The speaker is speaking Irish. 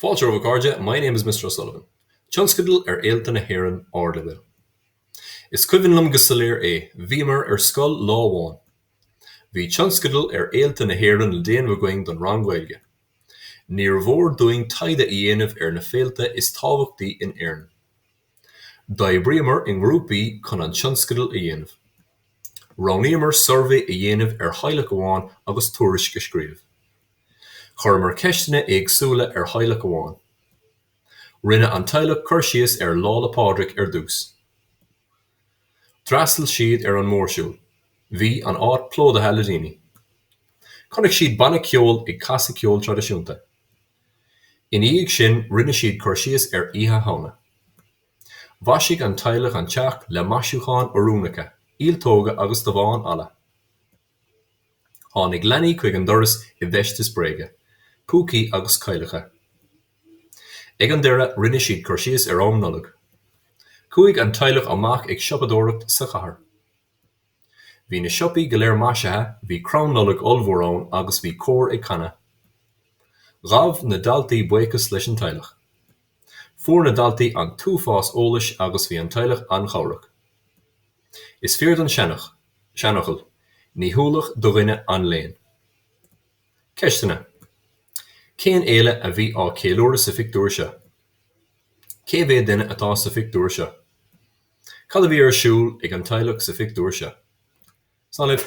Fáilte romhaibh a chairde My name is Mister O'Sullivan. Tionscadal ar Fhéilte na hÉireann Ardleibhéil. Is cuimhin liom go soiléir é, bhíomar ar scoil lá amháin. Bhí tionscadal ar Fhéilte na hÉireann le déanamh againn don rang Gaeilge. Níor mhór dúinn taighde a dhéanamh ar na féilte is tábhachtaí in Éirinn. D'oibríomar i ngrúpaí chun an tionscadal a dhéanamh. Roghnaíomar suirbhé a dhéanamh ar theaghlach amháin agus tuairisc a scríobh. Chuireamar ceisteanna éagsúla ar theaghlach amháin. Rinne an teaghlach cur síos ar Lá 'le Pádraig ar dtús. D'fhreastail siad ar an mórshiúl. Bhí an áit plódaithe le daoine. Chonaic siad banna ceoil ag casadh ceol traidisiúnta. Ina dhiaidh sin rinne siad cur síos ar Oíche Shamhna. Mhaisigh an teaghlach an teach le maisiúcháin oiriúnacha, ialtóga agus damháin alla. Tháinig leanaí chuig an doras i bhfeisteas bréige, púcaí agus cailleacha. Ag an deireadh rinne siad cur síos ar am Nollag. Chuaigh an teaghlach amach ag siopadóireacht sa chathair. Bhí na siopaí go léir maisithe, bhí crann Nollag ollmhór ann agus bhí cór ag canadh. Ghabh na daltaí buíochas leis an teaghlach. Fuair na daltaí an t-uafás eolais agus bhí an teaghlach an-chabhrach. Is fíor don seanfhocal, Ní hualach do dhuine an léann. Ceisteanna, Cén fhéile a bhí á ceiliúradh sa phictiúr seo? Cé mhéad duine atá sa phictiúr seo? Cad a bhí ar siúl ag an teaghlach sa phictiúr seo? Slán libh.